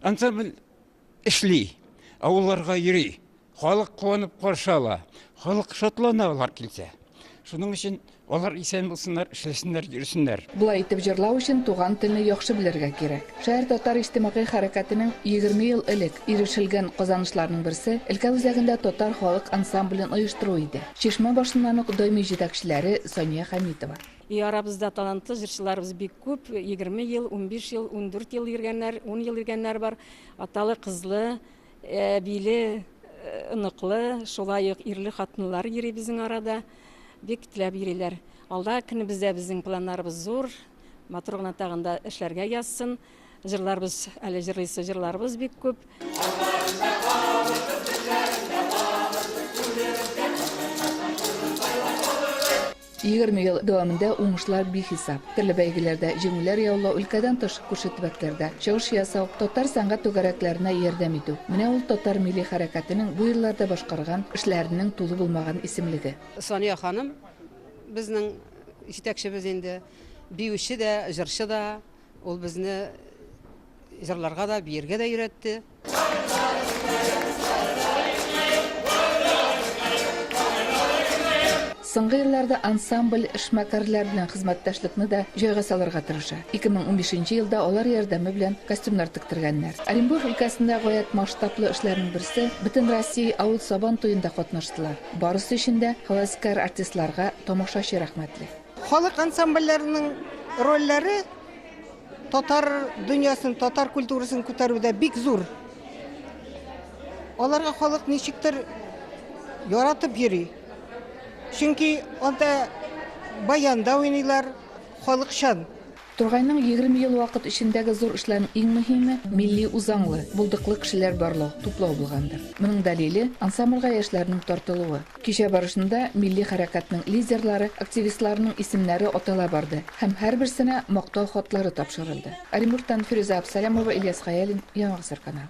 Ансамбль эшли, авылларга йөри, халык куанып каршы ала, халык шатлана алар килсә. Шуның өчен алар исән булсыннар, эшләсеннәр, йөрсеннәр. Болай итеп җырлау өчен туган телне яхшы белергә кирәк. Шәһәр татар иҗтимагый хәрәкәтенең егерме ел элек ирешелгән казанышларының берсе өлкә үзәгендә татар халык ансамблен оештыру иде. Чишмә башыннан ук даими җитәкчеләре Сания Хәмитова. И арабызда талантлы җырчыларыбыз бик күп, егерме ел, унбиш ел, ундүрт ел йөргәннәр, ун ел йөргәннәр бар. Аталы, кызлы, әбиле, оныклы, шулай ук ирле хатынлар йөри безнең арада. Бик теләп йөриләр. Алда көнебездә безнең планнарыбыз зур. Матур гына тагын да эшләргә язсын. Җырларыбыз, әле җырлыйсы җырларыбыз бик күп. Егерме ел дәвамында уңышлар бихисап. Төрле бәйгеләрдә җиңүләр яулау, өлкәдән тыш, күрше төбәкләрдә чыгыш ясау, татар сәнгать түгәрәкләренә ярдәм итү. Менә ул татар милли хәрәкәтенең бу елларда башкарган эшләренең тулы булмаган исемлеге. Сания ханым Безнең җитәкчебез инде биюче дә, җырчы да. Ул безне җырларга да, биергә дә өйрәтте. Соңгы елларда ансамбль эшмәкәрләр белән хезмәттәшлекне дә җайга салырга тырыша. 2015 елда алар ярдәме белән костюмнар тектергәннәр. Оренбур өлкәсендә гаять масштаблы эшләрнең берсе, Бөтенроссия авыл Сабан туенда катнаштылар. Барысы өчен дә һәвәскәр артистларга тамашачы рәхмәтле. Халык ансамбльләренең рольләре татар дөньясын, татар культурасын күтәрүдә бик зур. Аларга халык ничектер яратып йөри. Чөнки анда баянда уйныйлар, халыкчан. Тургайның егерме ел вакыт эчендәге зур эшләренең иң мөһиме, милли үзаңлы, булдыклы кешеләр барлау, туплау булгандыр. Моның дәлиле, ансамбльгә яшьләрнең тартылуы. Кичә барышында милли хәрәкәтнең лидерлары, активистларының исемнәре атала барды һәм һәрберсенә Мактау хатлары тапшырылды. Оренбургтан Фирүзә Абсалямова, Ильяс Хәялин, Яңа гасыр каналы.